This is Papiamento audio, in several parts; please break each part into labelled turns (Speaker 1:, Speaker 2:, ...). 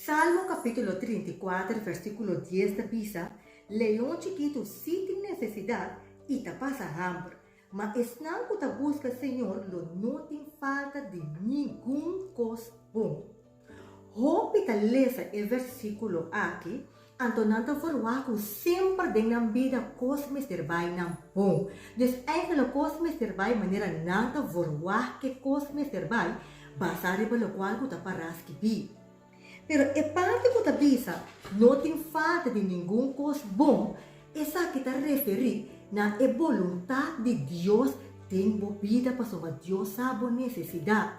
Speaker 1: Salmo capítulo trinta i kuater versículo dies ta bisa, Leon chikitu sí tin necesidad i ta pasa hamber, ma esnan cu ta busca Señor lo no tin falta di ningun cos bon. Hopi ta lesa e versíkulo akí, anto nan ta verwá ku semper den nan bida kos mester bai nan bon. Dus enkele lo kos mester bai manera nan ta verwá ke kos mester bai, basá riba lokual ku ta pará skibí. Pero e parti ku ta bisa no tin falta di ningun kos bon, esaki ta referí na e boluntat di Dios den bo bida pasobra Dios sa bo nesesidat.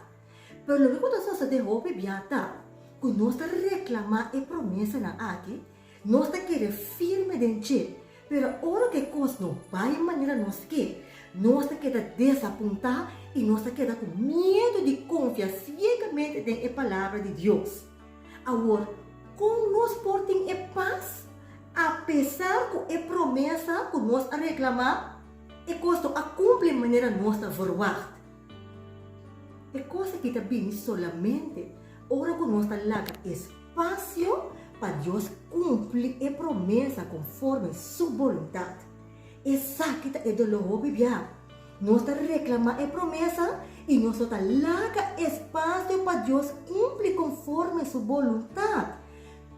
Speaker 1: Pero loke ku ta sosodé hopi bia ta ku nos ta reklamá e promesanan aki, nos ta kere firme den dje, pero ora ku e kos no bai manera nos ke, nos ta keda desapuntá i nos ta keda ku miedu di konfia siegamente den e Palabra di Dios. Awor, kon nos por tin e pas apesar ku e promesa ku nos a reklamá e kos no a kumpli manera nos ta verwagt? E cos aki ta bini solamente ora cu nos ta laga espacio pa Dios cumpli e promesa conforme Su boluntad. Esaki ta e dolor hopi bia. Nos ta reclama e promesa y nos no ta laga espacio pa Dios cumpli conforme Su boluntad.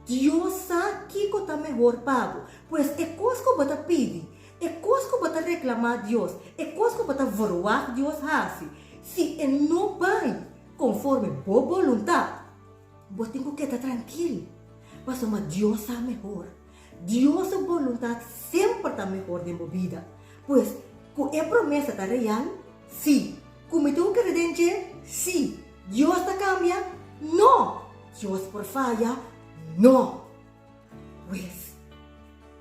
Speaker 1: Dios sa kico ta mehor pa bo. Pues e cos cu bo ta pidi, E kos ku bo ta reklamá Dios, e kos ku bo ta verwagt Dios hasi, si e no bai konforme bo boluntat, bo tin ku keda trankil, pasobra Dios sa mehor. Dios su boluntat semper ta mehor den bo bida. Pues, ku e promesa ta real? Sí. Ku mi tin ku kere den dje? Sí. Dios ta kambia? No. Dios por faya? No. Pues,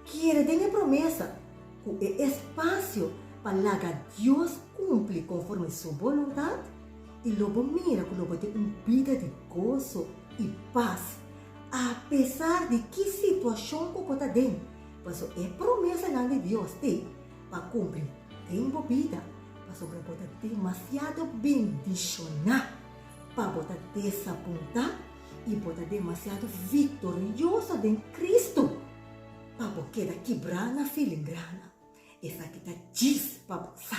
Speaker 1: kere den e promesa ku e espasio pa laga Dios kumpli konforme Su boluntat, i lo bo mira ku lo bo tin un bida di goso i pas apesar di ki situashon ku bo ta den, paso e promesanan di Dios te pa kumpli den bo bida, pasobra bo ta demasiado bendishoná pa bo ta desapuntá. i bo ta demasiado victorioso den Cristo pa bo keda kibrá na filingranan. Esaki ta djis pa bo sa.